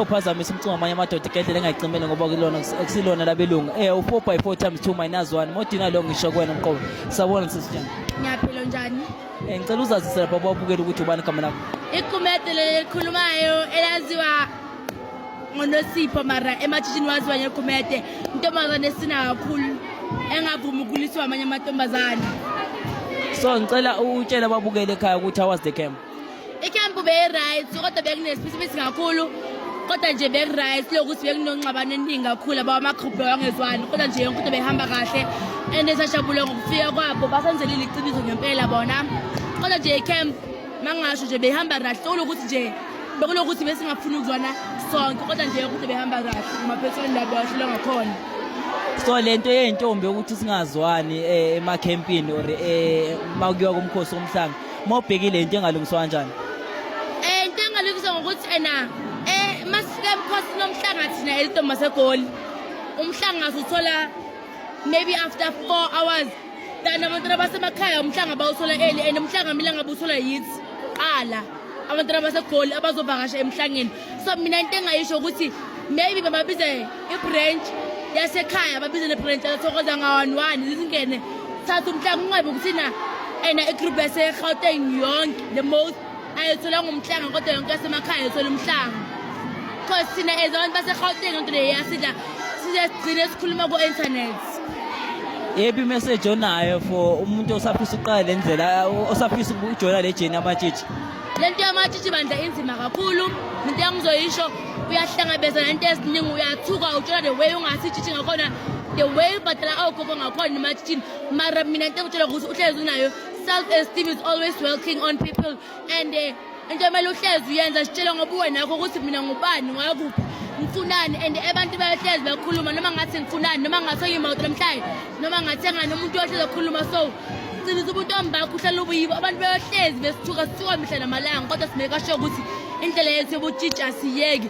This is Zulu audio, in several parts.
uphazamisa umcingo amanye amadoda igedlela engayicimele ngoba kulona kusilona labelungu eh u-four by four times two minus one modina lo ngisho kuwena mqobo sabona sisijani ngiyaphila njani um ngicela uzazise lapha babukele ukuthi ubani igama lakho iqumede leli elikhulumayo elaziwa ngonosipho mara ematshishini waziwa ngequmede intombazane esina kakhulu engavumi ukuliswa amanye amantombazane so ngicela utshele ababukele ekhaya ukuthi awas the camp Ikhempu beyi-right kodwa bekunesiphisimisi kakhulu kodwa nje beku-right lokuthi bekunonxabano eningi kakhulu aba amagruphu bawangezwani kodwa nje yonke into behamba kahle and esajabule ngokufika kwabo basenzelile iqiniso ngempela bona kodwa nje icamp mangasho nje behamba kahle okulokuthi nje bekulokuthi besingafuni ukuzwana sonke kodwa nje yonke into behamba kahle emaphethweni la bewahlulwa ngakhona so lento yeyintombi yokuthi singazwani eh, emakhempini or eh, uma kuyiwa kumkhosi womhlanga Uma ubhekile into engalungiswa kanjani? Eh into engalungiswa ngokuthi ena eh masifika emkhosini nomhlanga thina elidoma segoli. Umhlanga suthola maybe after 4 hours than abantwana basemakhaya umhlanga bawuthola eli and umhlanga mina ngabe uthola yithi qala abantwana basegoli abazovakasha emhlangeni so mina into engayisho ukuthi maybe bababize ibranch yasekhaya babize nebranch yasokhoza nga-one one zizingene thatha umhlanga ungabe ukuthina ena igroup yaserhawuteng yonke the most ayithola ngumhlanga kodwa yonke yasemakhaya ayithola umhlanga coz thina as abantu baserhawuteng yonke le yasidla size sigcine sikhuluma ku-internet yephi imeseji onayo for umuntu osafisa uqala le ndlela osafisa ukujoyina le jeni amatshitshi lento yamatshitshi bandla inzima kakhulu into yangizoyisho uyahlangabeza nento eziningi uyathuka utshela the way ungathi itshitshi ngakhona the way ubhadala awugogo ngakhona ematshitshini mara mina into engitshela ukuthi uhlezi unayo self esteem is always working on people and eh, into emele uhlezi uyenza sitshele ngoba uwenakho ukuthi mina ngubani ngwakuphi ngifunani and abantu bayohlezi bekhuluma noma ngathi ngifunani noma ngathi oyimawuti namhlanje noma ngathi engani umuntu ohlezi ekhuluma so Qinisa ubuntombi bakho uhlala ubuyibo abantu beyohlezi besithuka sithuka mihla namalanga kodwa simeka sho ukuthi indlela yethu yobutshitsha siyeki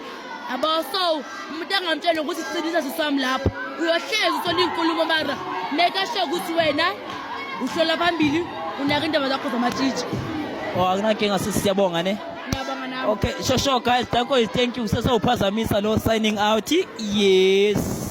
yabo so umuntu angamtshela nokuthi qinisa siswami lapho uyohlezi usola iy'nkulumo mara meka sho ukuthi wena uhlola phambili unaka indaba zakho zamatshitsha o oh, akunakinga sisi siyabonga ne okay sure sure guys danko is thank you sesewuphazamisa lo signing out yes